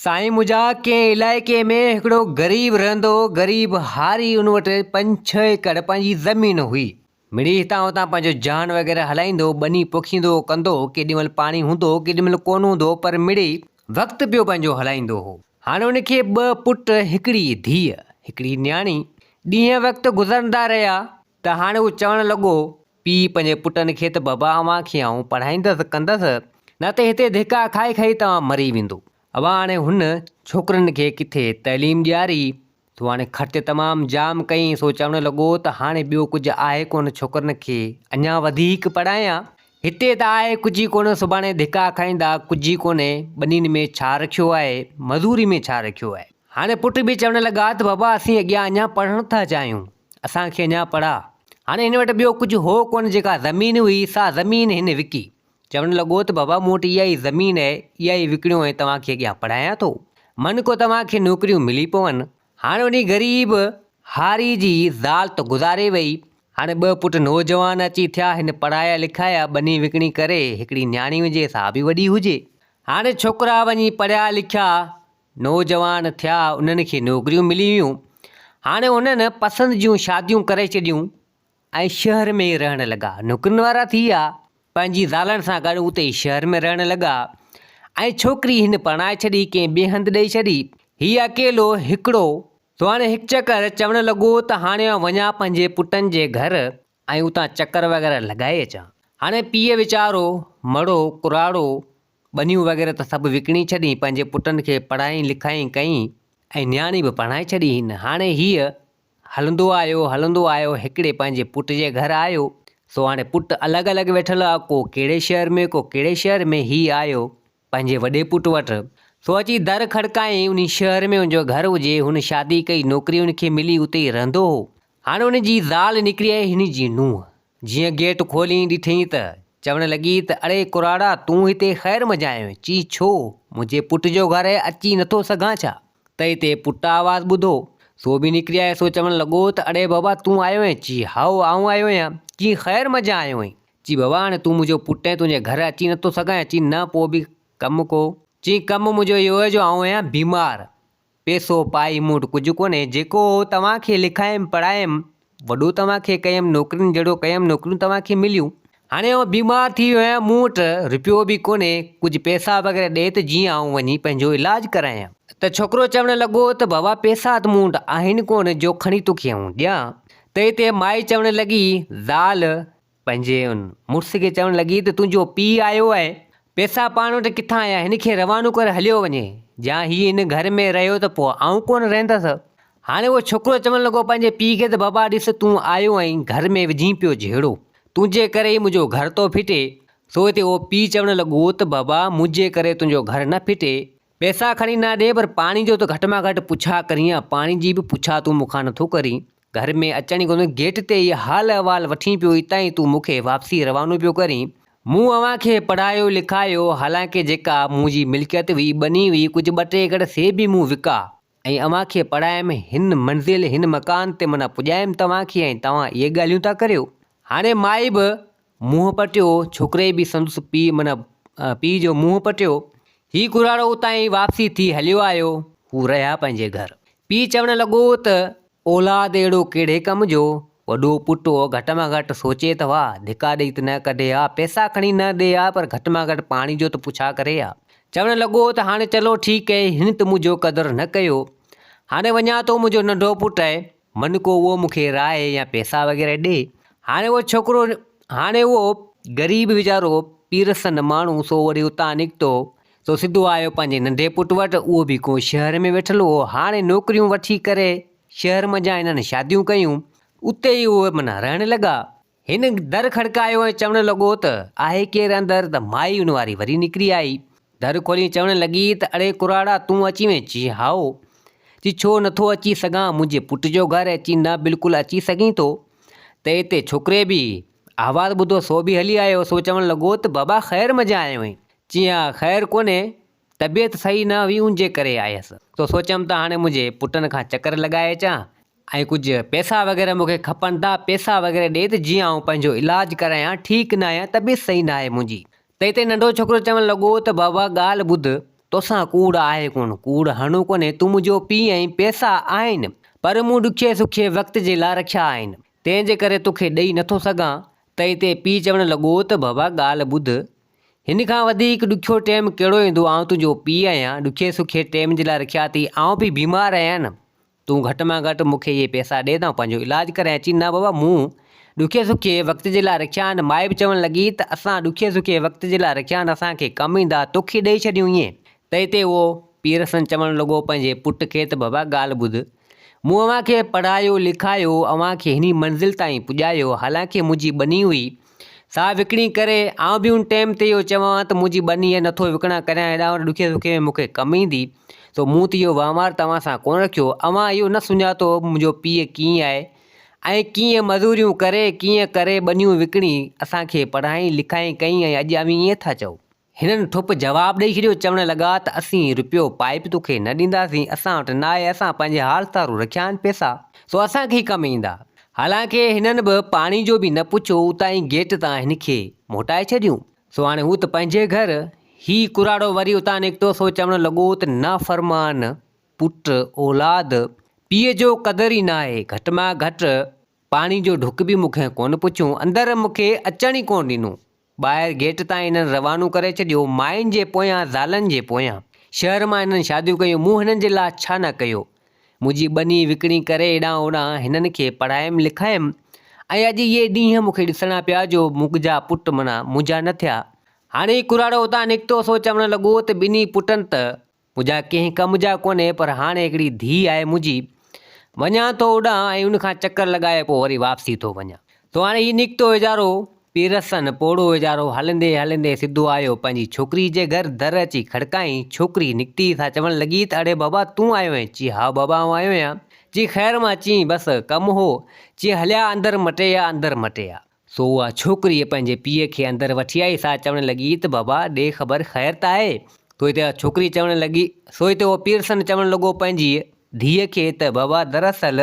سائين منهنجا ڪنهن علائقي ۾ هڪڙو غريب رهندو هو غريب هاري ان وٽ پنج ڇهه ايڪڙ پنهنجي زمين هئي مڙئي هتان هتان پنهنجو جهان وغيره هلائيندو هو ٻني پوکيندو هو ڪندو هو ڪيڏي مهل پاڻي هوندو هو ڪيڏي مهل ڪونه هوندو هو پر مڙئي وقت پيو پنهنجو هلائيندو هو هاڻي ان کي ٻه پٽ هڪڙي ڌيء هڪڙي نياڻي ڏينهن وقت گذرندا رهيا ته هاڻي هو چوڻ لڳو پيء پنهنجي پٽن کي ته بابا اوهان کي آئون پڙهائيندس ڪندس نه ته هتي ڌڪا کائي کائي توهان مري ويندو. اوهان هاڻي هن ڇوڪرن کي ڪٿي تعليم ڏياري؟ تو هاڻي خرچ تمام جام ڪئين سو چوڻ لڳو ته هاڻي ٻيو ڪجهه آهي ڪونه ڇوڪرن کي اڃا وڌيڪ پڙهايان. هتي ته آهي ڪجهه ئي ڪونه سڀاڻي ڌڪا کائيندا ڪجهه ئي ڪونهي ٻنين ۾ ڇا رکيو آهي مزوري ۾ ڇا رکيو آهي. هاڻي پٽ به چوڻ لڳا ته بابا اسين اڳيان اڃا پڙهڻ ٿا چاهيون. اسان کي اڃا پڙها. هاڻي هن وٽ ٻيو ڪجهه هو ڪونه، جيڪا زمين هئي، سا زمين هن وڪي. چوڻ لڳو ته بابا مون وٽ اها ئي زمين آهي، اها ئي وڪڻيو ۽ توهان کي اڳيان پڙهايان ٿو. من ڪو توهان کي نوڪريون ملي پون. هاڻي انهي غريب هاري جي زال ته گذاري وئي، هاڻي ٻه پٽ نوجوان اچي ٿيا، هن پڙهايا لکايا، ٻني وڪڻي ڪري، هڪڙي نياڻي هجي، سا به وڏي هجي. هاڻي ڇوڪرا وڃي پڙهيا لکيا، نوجوان ٿيا انهن کي نوڪريون ملي ويون هاڻي انهن پسند جون شاديون ڪري ڇڏيون ۽ شهر ۾ ئي رهڻ لڳا نوڪرين وارا ٿي ويا پنهنجي زالن سان گڏ اتي ئي شهر ۾ رهڻ لڳا ۽ ڇوڪري هن پرڻائي ڇڏي ڪنهن ٻئي هنڌ ڏئي ڇڏي هي اڪيلو هڪڙو ٿو هاڻي هڪ چڪر چوڻ لڳو ته هاڻي آئون وڃان پنهنجي پٽن جي گهر ۽ اتان چڪر وغيره لڳائي اچان هاڻي پيء ويچارو مڙو ڪراڙو ٻنيون وغيره ته سڀ وڪڻي ڇڏين، پنهنجي پٽن کي پڙهائين لکائين ڪئين ۽ نياڻي به پرڻائي ڇڏي هين. هاڻي هيء هلندو آيو، هلندو آيو هڪڙي پنهنجي پٽ جي گهر آيو، سو هاڻي پٽ الڳ الڳ ويٺل هئا، ڪو ڪهڙي شهر ۾ ڪو ڪهڙي شهر ۾، هيء آيو پنهنجي وڏي پٽ وٽ، سو اچي در کڙڪائين، انهي شهر ۾ ان جو گهر هجي، هن شادي ڪئي، نوڪري ان کي ملي، اتي ئي رهندو هو، هاڻي ان جي زال نڪري آهي هن جي نونهن، جيئن گيٽ کولي ڏٺيئي ته چوڻ لڳي ته اڙي ڪراڙا تون هتي خير مجايو چي ڇو منهنجي پٽ جو گهر آهي اچي نٿو سگهان ڇا ته هتي پٽ آواز ٻڌو سو به نڪري آيو سو چوڻ لڳو ته اڙي بابا تون آيو آهين چي هائو آئون آيو آهيان چي خير مجا آيو آهين چي بابا هاڻي تون منهنجو پٽ آهين تنهنجي گهر اچي نٿو سگهان چي نه پوء به ڪم ڪو چي ڪم منهنجو اهو آهي جو آئون آهيان بيمار پئسو پائي مون وٽ ڪجهه ڪونهي، جيڪو هو توهان کي لکايم پڙهايم، وڏو توهان کي ڪيم، نوڪرين جهڙو ڪيم، نوڪريون توهان کي مليون. هاڻي آئون بيمار ٿي ويو آهيان، مون وٽ رپيو به ڪونهي، ڪجهه پئسا وغيره ڏي ته جيئن آئون وڃي پنهنجو علاج ڪرايان. ته ڇوڪرو چوڻ لڳو ته بابا پئسا ته مون وٽ آهن ڪونه جو کڻي توکي آئون ڏيان. ته هتي مائي چوڻ لڳي، زال! پنهنجي ان مڙس کي چوڻ لڳي ته تنهنجو پيء آيو آهي، پئسا پاڻ وٽ ڪٿان آيا، هن کي روانو ڪر هليو وڃي، جا هي هن گهر ۾ رهيو ته پوء آئون ڪونه رهندس. هاڻي اهو ڇوڪرو چوڻ لڳو پنهنجي پيء کي ته بابا ڏس تون آيو آهين گهر ۾ وجهين پيو جهيڙو، تنهنجي ڪري ئي منهنجو گهر ٿو ڦٽي، سو هتي اهو پيء چوڻ لڳو ته بابا منهنجي ڪري تنهنجو گهر نه ڦٽي، پئسا کڻي نه ڏي پر پاڻي جو ته گهٽ مان گهٽ پڇا ڪريان، پاڻي جي به پڇا تون مون کان نٿو ڪرين. گهر ۾ اچڻ ئي ڪونه گيٽ تي ئي حال احوال وٺين پيو اتان ئي تون مون کي واپسي روانو پيو ڪرين. مون اوهان کي پڙهايو لکايو حالانڪه جيڪا منهنجي ملڪيت هئي ٻني هئي ڪجهه ٻه ٽي ايڪڙ سي به مون وڪا ۽ اوهان کي پڙهايم هن منزل هن مڪان تي منا پڄايم توهان کي ۽ توهان اهي ڳالهيون ٿا ڪريو هاڻي مائي به منهن پٽيو، ڇوڪري به سندس پيء من پيء جو منهن پٽيو. هي ڪراڙو اتان ئي واپسي ٿي هليو آيو. هو رهيا پنهنجي گهر. پيء چوڻ لڳو ته، اولاد اهڙو ڪهڙي ڪم جو وڏو پٽ هو گهٽ مان گهٽ سوچي ته ها، ڌڪا ڏئي ته نه ڪڍي ها، پئسا کڻي نه ڏي ها پر گهٽ مان گهٽ پاڻي جو ته پڇا ڪري ها. چوڻ لڳو ته هاڻي چلو ٺيڪ اهي هن ته منهنجو قدر نه ڪيو. هاڻي وڃان ٿو منهنجو ننڍو پٽ اهي. من ڪو اهو مون کي راء يا پيسا وغيره ڏي. هاڻي اهو ڇوڪرو هاڻي اهو غريب ويچارو پيرسن ماڻهو سو وري اتان نڪتو سو سڌو آيو پنهنجي ننڍي پٽ وٽ اهو به ڪو شهر ۾ ويٺل هو هاڻي نوڪريون وٺي ڪري شهر منجهان انهن شاديون ڪيون اتي ئي اهي معنيٰ رهڻ لڳا هن در کڙڪايو ۽ چوڻ لڳو ته، آهي ڪير اندر؟ ته مائي ان واري وري نڪري آئي. در کولي چوڻ لڳي ته، اڙي ڪراڙا تون اچي وئين؟ چيس هائو. چيس ڇو نه ٿو اچي سگهان؟ منهنجي پٽ جو گهر ۽ چيس نه بلڪل اچي سگهين ٿو. ته اتي ڇوڪري به آواز ٻڌو سو به هلي آيو. سو چوڻ لڳو ته، بابا خير مجان آيو آهين؟ چيس ها خير ڪونهي. طبيعت صحيح نه هئي ان جي ڪري آيس سو سوچيم ته هاڻي منهنجي پٽن کان چڪر لڳائي اچان ۽ ڪجهه پئسا وغيره مون کي کپن ٿا پئسا وغيره ڏي ته جيئن آئون پنهنجو علاج ڪرايان ٺيڪ نه آهيان طبيعت صحيح نه آهي منهنجي ته اتي ننڍو ڇوڪرو چوڻ لڳو ته بابا ڳالهه ٻڌ توسان ڪوڙ آهي ڪونه ڪوڙ هڻو ڪونهي تون منهنجو پيء آهين پئسا آهن پر مون ڏکئي سکئي وقت جي لاء رکيا آهن تنهن جي ڪري توکي ڏئي نٿو سگهان ته اتي پيء چوڻ لڳو ته بابا ڳالهه ٻڌ هن کان وڌيڪ ڏکيو ٽيم ڪهڙو ايندو آئون تنهنجو پيء آهيان ڏکي سکي ٽيم جي لاء رکيا اٿئي آئون به بيمار آهيان نه تون گهٽ مان گهٽ مون کي اهي پئسا ڏي ته آئون پنهنجو علاج ڪرائين اچي نه بابا مون ڏکي سکي وقت جي لاء رکيا آهن مائي به چوڻ لڳي ته اسان ڏکي سکي وقت جي لاء رکيا آهن اسان کي ڪم ايندا توکي ڏئي ڇڏيون ائين تنهن تي اهو پيرسن چوڻ لڳو پنهنجي پٽ کي ته بابا ڳالهه ٻڌ مون اوهان کي پڙهايو، لکايو، اوهان کي هني منزل تائين پڄايو، حالانڪه منهنجي ٻني هئي، سا وڪڻي ڪري، آئون به ان ٽيم تي اهو چوان ها ته منهنجي ٻني هي نٿو وڪڻان ڪريان هيڏانهن هوڏانهن ڏکي سکي ۾ مون کي ڪم ايندي، سو مون ته اهو وهنوار توهان سان ڪونه رکيو، اوهان اهو نه سڃاتو هو منهنجو پيء ڪيئن آهي ۽ ڪيئن مزوريون ڪري، ڪيئن ڪري ٻنيون وڪڻي، اسان کي پڙهائين، لکائين ڪئين ۽ اڄ اوهين ائين ٿا چئو. هنن ٺپ جواب ڏئي ڇڏيو، چوڻ لڳا ته اسين رپيو پائي به توکي نه ڏينداسين، اسان وٽ ناهي، اسان پنهنجي حال سارو رکيا آهن پئسا، سو اسان کي ئي ڪم ايندا. حالانڪ هنن به پاڻي جو به نه پڇيو، اتان ئي گيٽ تان هن کي موٽائي ڇڏيون. سو هاڻي هو ته پنهنجي گهر. هي ڪراڙو وري اتان نڪتو، سو چوڻ لڳو ته نافرمان پٽ، اولاد، پيء جو قدر ئي ناهي، گهٽ مان گهٽ پاڻي جو ڍڪ به مون کان ڪونه پڇيو، اندر مون کي اچڻ ئي ڪونه ڏنو. ٻاهر گيٽ تان هنن روانو ڪري ڇڏيو، ماين جي پويان زالن جي پويان. شهر مان هنن شاديون ڪيون، مون هنن جي لاء ڇا نه ڪيو. منهنجي ٻني وڪڻي ڪري هيڏانهن هوڏانهن هنن کي پڙهايم لکايم ۽ اڄ اهي ڏينهن مون کي ڏسڻا پيا جو منهجا پٽ منا منهنجا نه ٿيا. هاڻي ڪراڙو اتان نڪتو سو چوڻ لڳو ته ٻنهي پٽن ته منهنجا ڪنهن ڪم جا ڪونهي پر هاڻي هڪڙي ڌيء آهي منهنجي. وڃان ٿو اوڏانهن ۽ ان کان چڪر لڳائي پوء وري واپسي ٿو وڃان. سو هاڻي هي نڪتو ويچارو پيرسن پوڙهو ويچارو هلندي هلندي سڌو آيو پنهنجي ڇوڪري جي گهر، در اچي کڙڪائين، ڇوڪري نڪتي سان چوڻ لڳي ته اڙي بابا تون آيو آهين؟ چي هائو بابا آئون آيو آهيان. چي خير مان چي بس ڪم هو؟ چي هليا اندر مٽي آ اندر مٽي آ. سو اها ڇوڪريء پنهنجي پيء کي اندر وٺي آئي، سا چوڻ لڳي ته بابا، ڏي خبر خير ته آهي؟ سو هتي اها ڇوڪري چوڻ لڳي، سو هتي اهو پيرسن چوڻ لڳو پنهنجيء ڌيء کي ته بابا، دراصل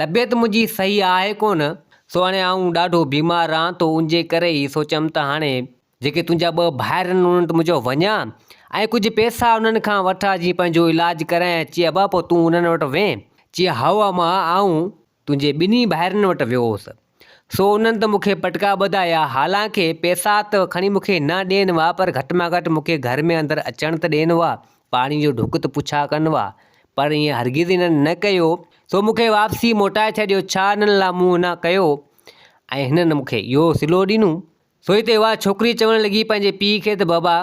طبيعت منهنجي صحيح آهي ڪونه، سو هاڻي آئون ڏاڍو بيمار رهان ٿو، ان جي ڪري هي سوچيم ته هاڻي جيڪي تنهنجا ٻه ڀائر آهن، انهن وٽ منهنجو وڃان ۽ ڪجهه پئسا انهن کان وٺان، جيئن پنهنجو علاج ڪرايان، چي ابا، پوء تون انهن وٽ وڃ، چي هائو امان، آئون تنهنجي ٻنهي ڀائرن وٽ ويو هوس، سو انهن ته مون کي پٽڪا ٻڌايا، حالانڪ پئسا ته کڻي مون کي نه ڏين ها، پر گهٽ مان گهٽ مون کي گهر ۾ اندر اچڻ ته ڏين ها، پاڻي جو ڍڪ ته پڇا ڪن ها. پر ائين هرگز انهن نه ڪيو، سو مون کي واپسي موٽائي ڇڏيو، ڇا انهن لاء مون نه ڪيو ۽ هنن مون کي اهو صلو ڏنو؟ سوئي تي اها ڇوڪري چوڻ لڳي پنهنجي پيء کي ته بابا،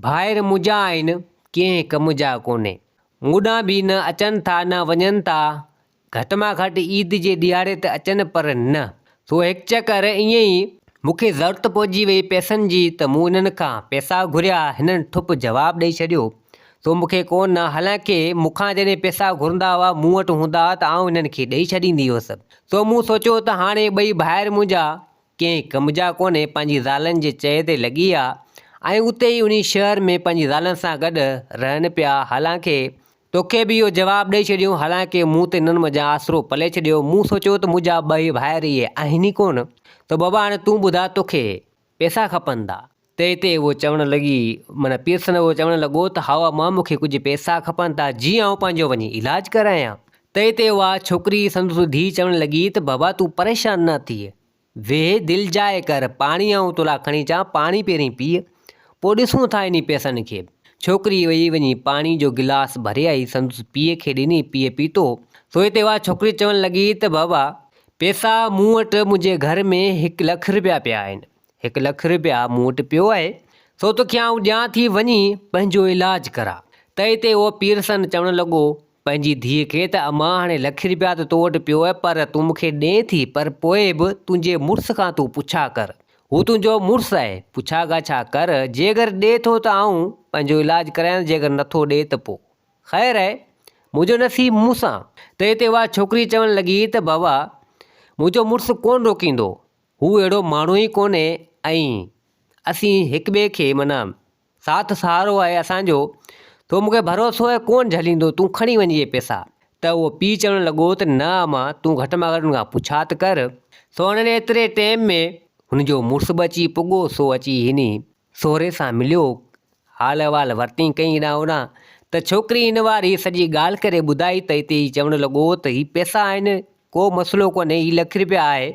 ڀائر منهنجا آهن، ڪنهن ڪم جا ڪونهي، مون ڏانهن به نه اچن ٿا نه وڃن ٿا، گهٽ مان گهٽ عيد جي ڏهاڙي ته اچن پر نه سو هڪ چڪر ائين ئي مون کي ضرورت پئجي وئي پئسن جي ته مون انهن کان پئسا گهريا هنن ٺپ جواب ڏئي ڇڏيو سو مون کي ڪو نه حالانڪه مون کان جڏهن پئسا گهرندا هئا مون وٽ هوندا هئا ته آئون هنن کي ڏئي ڇڏيندي هيس سو مون سوچيو ته هاڻي ٻئي ڀائر منهنجا ڪنهن ڪم جا ڪونهي پنهنجي زالن جي چئي تي لڳي ويا ۽ اتي ئي انهي شهر ۾ پنهنجي زالن سان گڏ رهن پيا حالانڪه توکي به اهو جواب ڏئي ڇڏيون، حالانڪه مون تي انهن منجهان آسرو پلي ڇڏيو. مون سوچيو ته منهنجا ٻئي ڀائر اهي آهن ئي ڪونه، ته بابا هاڻي تون ٻڌاء توکي پئسا کپندا؟ تنهن تي هوء چوڻ لڳي، معنيٰ پيرسن هوء چوڻ لڳو ته هائو امان مون کي ڪجهه پئسا کپن ٿا، جيئن آئون پنهنجو وڃي علاج ڪرايان. تنهن تي اها ڇوڪري، سندس ڌيء چوڻ لڳي ته بابا تون پريشان نه ٿيء، ويهه دل جاء ڪر، پاڻي آئون تولاء کڻي اچان، پاڻي پهرين پيء، پوء ڏسون ٿا انهي پيسن کي. ڇوڪري ويئي وڃي پاڻي جو گلاس ڀري آئي سندس پيء کي ڏني، پيء پيتو. سوئي تي اها ڇوڪري چوڻ لڳي ته بابا! پيسا مون وٽ منهنجي گهر ۾ هڪ لک رپيا پيا آهن، هڪ لک رپيا مون وٽ پيو آهي، سو توکي آئون ڏيان ٿي، وڃي پنهنجو علاج ڪراء. تئي تي اهو پيرسن چوڻ لڳو پنهنجي ڌيء کي ته امان هاڻي لک رپيا ته تو وٽ پيو آهي پر تون مون کي ڏئين ٿي پر پوء به تنهنجي مڙس کان تون پڇا ڪر هو تنهنجو مڙس آهي پڇا ڳاڇا ڪر جيڪر ڏئي ٿو ته آئون پنهنجو علاج ڪرايانس جيڪر نٿو ڏئي ته پوء خير آهي منهنجو نصيب مون سان ته اتي اها ڇوڪري چوڻ لڳي ته بابا منهنجو مڙس ڪونه روڪيندو هو اهڙو ماڻهو ئي ڪونهي ۽ اسين هڪٻئي کي معنيٰ ساٿ سهارو آهي اسان جو، تو مون کي ڀروسو آهي ڪونهن جهليندو، تون کڻي وڃ اهي پئسا. ته اهو پيء چوڻ لڳو ته نه اما، تون گهٽ ۾ گهٽ هن کان پڇاٿ ڪر. سو هن ايتري ٽيم ۾ هن جو مڙس به اچي پڳو، سو اچي هن سهري سان مليو، حال احوال ورتين ڪئين هيڏانهن هوڏانهن ته ڇوڪري هن واري سڄي ڳالهه ڪري ٻڌائي ته هتي هي چوڻ لڳو ته هي پئسا آهن ڪو مسئلو ڪونهي، هي لک رپيا آهي،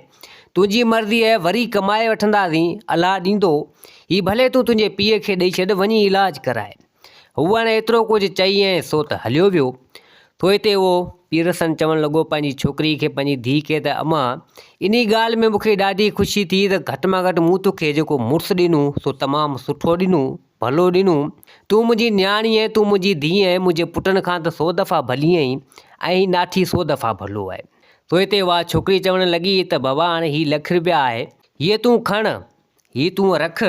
تنهنجي مرضي اهي وري ڪمائي وٺنداسين، الله ڏيندو، هي ڀلي تون تنهنجي پيء کي ڏئي ڇڏ، وڃي علاج ڪرائي. هو هاڻي ايترو ڪجهه چئي ۽ سو ته هليو ويو. ٿوئي تي اهو پيرسن چوڻ لڳو پنهنجي ڇوڪري کي، پنهنجي ڌيء کي ته امان، انهي ڳالهه ۾ مون کي ڏاڍي خوشي ٿي ته گهٽ مان گهٽ مون توکي جيڪو مڙس ڏنو سو تمام سٺو ڏنو، ڀلو ڏنو. تون منهنجي نياڻي ۽ تون منهنجي ڌيء ۽ منهنجي پٽن کان ته سو دفعا ڀلي آهين ۽ هي ناٺي سو دفعا ڀلو آهي. پوء تي اها ڇوڪري چوڻ لڳي ته بابا هاڻي هي لک رپيا آهي، هيء تون کڻ، هي تون رک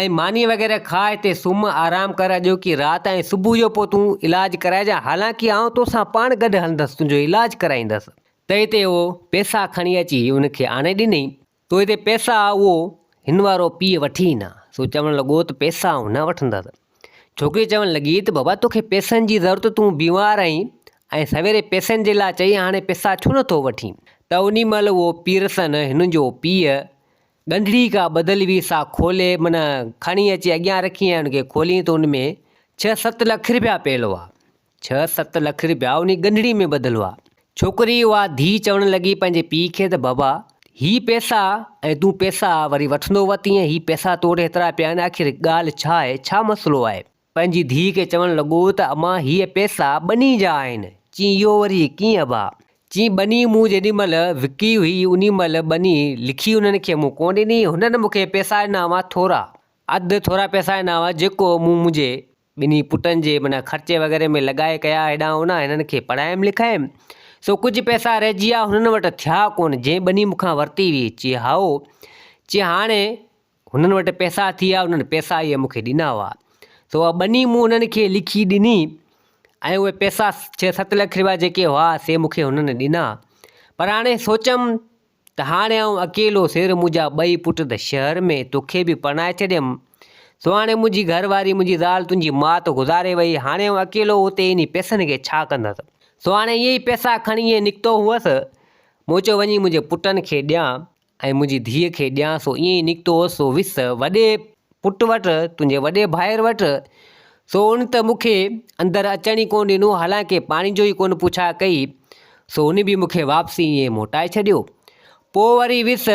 ۽ ماني وغيره کاء هتي سمهه، آرام ڪر اڄوڪي رات ۽ صبح جو پوء تون علاج ڪرائجان، حالانڪ آئون توسان پاڻ گڏ هلندس، تنهنجو علاج ڪرائيندس. تنهن تي اهو پئسا کڻي اچي هن کي آڻي ڏنائين. تو هتي پيسا اهو هن وارو پيء وٺي نه، سو چوڻ لڳو ته پيسا آئون نه وٺندس. ڇوڪري چوڻ لڳي ته بابا توکي پيسن جي ضرورت تون بيمار آهين ۽ سويري پيسن جي لاء چئي هاڻي پيسا ڇو نه ٿو وٺين؟ ته انهي مهل اهو پيرسن هن جو پيء ڳنڍڙي ڪا ٻڌل هئي سا کولي معنيٰ کڻي اچي اڳيان رکي ۽ ان کي کولين ته ان ۾ ڇهه ست لک رپيا پيل هئا. ڇهه ست لک رپيا انهي ڳنڍڙي ۾ ٻڌل هئا. ڇوڪري اها ڌيء چوڻ لڳي پنهنجي پيء کي ته بابا، هي پئسا ۽ تون پئسا وري وٺندو وت ائين هي پئسا تو وٽ هيترا پيا آهن آخر ڳالهه ڇا آهي، ڇا مسئلو آهي؟ پنهنجي ڌيء کي چوڻ لڳو ته اما هيء پئسا ٻني جا آهن. چيائين اهو وري ڪيئن ابا؟ چيائين ٻني مون جيڏي مهل وڪي هئي انهي مهل ٻني لکي انهن کي مون ڪونه ڏني، هنن مون کي پئسا ڏنا هئا ٿورا، اڌ ٿورا پئسا ڏنا هئا جيڪو مون منهنجي ٻنهي پٽن جي معنيٰ خرچي وغيره ۾ لڳائي ڪيا هيڏانهن هوڏانهن هنن کي پڙهايم لکايم سو ڪجهه پئسا رهجي ويا هنن وٽ ٿيا ڪونه جنهن ٻني مون کان ورتي هئي چي هائو چي هاڻي هنن وٽ پئسا ٿي ويا هنن پئسا اهي مون کي ڏنا هئا سو اها ٻني مون هنن کي لکي ڏني ۽ اهي پئسا ڇهه ست لک رپيا جيڪي هئا سي مون کي هنن ڏنا پر هاڻي سوچيم ته هاڻي آئون اڪيلو سير منهنجا ٻئي پٽ ته شهر ۾، توکي به پرڻائي ڇڏيم، سهاڻي منهنجي گهر واري منهنجي زال تنهنجي ماء ته گذاري وئي، هاڻي آئون اڪيلو اتي انهي پئسن کي ڇا ڪندس؟ سهاڻي اهي ئي پئسا کڻي ائين نڪتو هئس، مون چيو وڃي منهنجي پٽن کي ڏيان ۽ منهنجي ڌيء کي ڏيان سو ائين ئي نڪتو هئس سو وس وڏي پٽ وٽ، تنهنجي وڏي ڀائر وٽ، سو ان ته مون کي اندر اچڻ ئي ڪونه ڏنو، حالانڪه پاڻي جو ئي ڪونه پڇا ڪئي، سو هن به مون کي واپسي ائين ئي موٽائي ڇڏيو. پوء وري ويس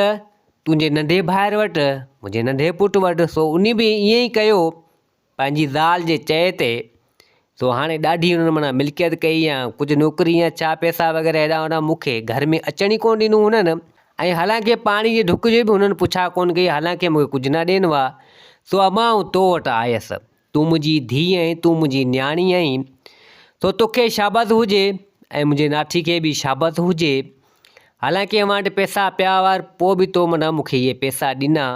تنهنجي ننڍي ڀائر وٽ، منهنجي ننڍي پٽ وٽ، سو ان به ائين ئي ڪيو، پنهنجي زال جي چئي تي. سو هاڻي ڏاڍي هن معنيٰ ملڪيت ڪئي يا ڪجهه نوڪري يا ڇا پيسا وغيره هيڏانهن هوڏانهن مون کي گهر ۾ اچڻ ئي ڪونه ڏنو هونئن ۽ حالانڪه پاڻي جي ڍڪ جي به هنن پڇا ڪونه ڪئي حالانڪه مون کي ڪجهه نه ڏين هئا سو امان آئون تو وٽ آيس تون منهنجي ڌيء آهين تون منهنجي نياڻي آهين سو توکي شابس هجي ۽ منهنجي ناٺي کي به شابس هجي حالانڪه اوهان وٽ پيسا پيا هئا پر پوء به تو معنيٰ مون کي اهي پيسا ڏنا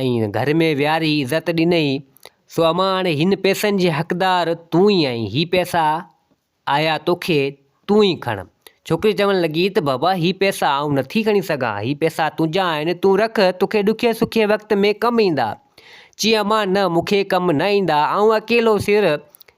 ۽ گهر ۾ ويهاري عزت ڏنئي، سو امان هاڻي هن پئسن جي حقدار تون ئي آهين، هي پئسا آيا توکي، تون ئي کڻ. ڇوڪري چوڻ لڳي ته بابا هي پئسا آئون نٿي کڻي سگهان، هي پئسا تنهنجا آهن، تون رک، توکي ڏکي سکي وقت ۾ ڪم ايندا. چيائين امان نه، مون کي ڪم نه ايندا، آئون اڪيلو سر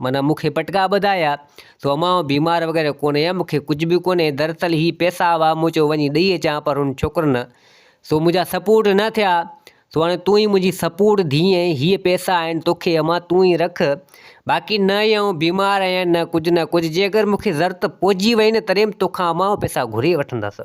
معنيٰ مون کي پٽڪا ٻڌايا، سو امان آئون بيمار وغيره ڪونهي آهيان، مون کي ڪجهه به ڪونهي، دراصل هي پئسا هئا، مون چيو وڃي ڏئي اچان، پر هن ڇوڪر نه، سو منهنجا سپورٽ نه ٿيا، سو هاڻي تون ئي منهنجي سپورٽ ڌيء آهين، هي پئسا آهن توکي امان تون ئي رک، باقي نه ئي آئون بيمار آهيان نه ڪجهه نه ڪجهه، جي اگر مون کي ضرورت پئجي وئي نه تڏهن به توکان امان آئون پئسا گهري وٺندس.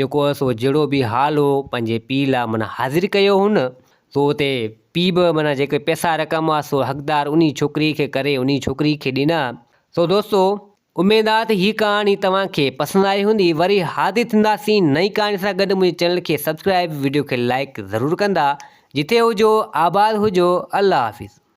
جيڪو هوس اهو جهڙو به حال هو پنهنجي پيء لاء معنيٰ حاضر ڪيو هن سو اتي پيء به معنيٰ جيڪي پئسا رقم هئا سو حقدار انهي ڇوڪري کي ڪري انهي ڇوڪري کي ڏنا سو دوستو اميد آ ته هي ڪهاڻي توهان کي پسند آئي هوندي وري حاضر ٿينداسين نئين ڪهاڻي سان گڏ منهنجي چينل کي سبسڪرائيب وڊيو کي لائڪ ضرور ڪندا جتي هجو آباد هجو الله حافظ.